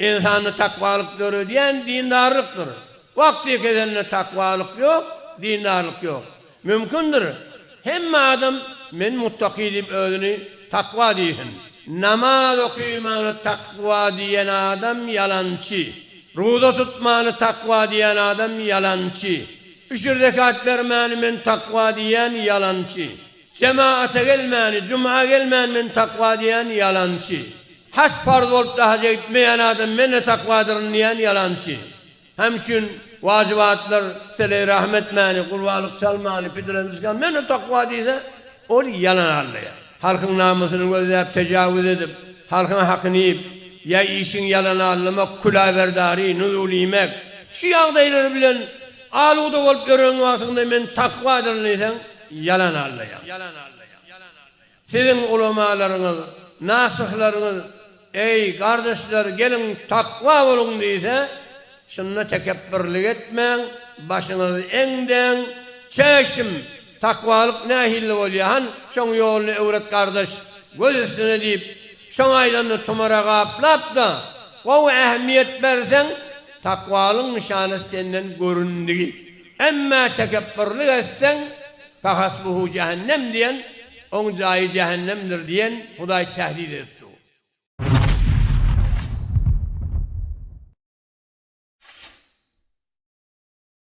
Ynsanda takwalyk döredýän dindarlykdyr. Wagty ýekezende takwalyk ýok, dindarlyk ýok. Mümkindir, hemme adam men muttaky diýip özüni takwa diýsin. Namaz okymany takwa diýen adam ýalançy. Ruza tutmany takwa diýen adam ýalançy. Üşür zekat bermäni men takwa diýýän ýalançy. Jemaata gelmäni, juma gelmän men takwa diýýän ýalançy. Haç parz bolupda haja gitmeýän adam men-ä takwadyryn diýýän ýalançy. Hem üçin wajybatlar, seleý rahm etmäni, gurbalyk çalmany, pidreni çykany men-ä takwa diýse, ol ýalan arlaýar. Halkyň namysyny gözläp tejawuz edip, halkyň hakyny iýip, ýa işiň ýalany arlamak, küläberdary, nuzul iýmek, şu ýagdaýlar bilen asuda bolup ýören wagtyňda men takwadyryn diýseň, Ýalan allaýar. Siziň ulamalaryňyz, nasyhlaryňyz, Eý, gardaşlar, geliň, takwa boluň diýse, şunda tekepbirlik etmäň, başyňyzy eňdäň, Çäşim, takwalyk nähilli bolýar, han, şoň ýoluny öwret, gardaş, göz üstüne diýip, şoň aýdanyny tumara gaplap-da, gowy ähmiýet berseň, takwalyň nyşany senden göründigi. Emmä tekepbürlik etseň, fahasbuhu jähennem diýen, oň jaýy jähennemdir diýen, Hudaý tähdid edip dur.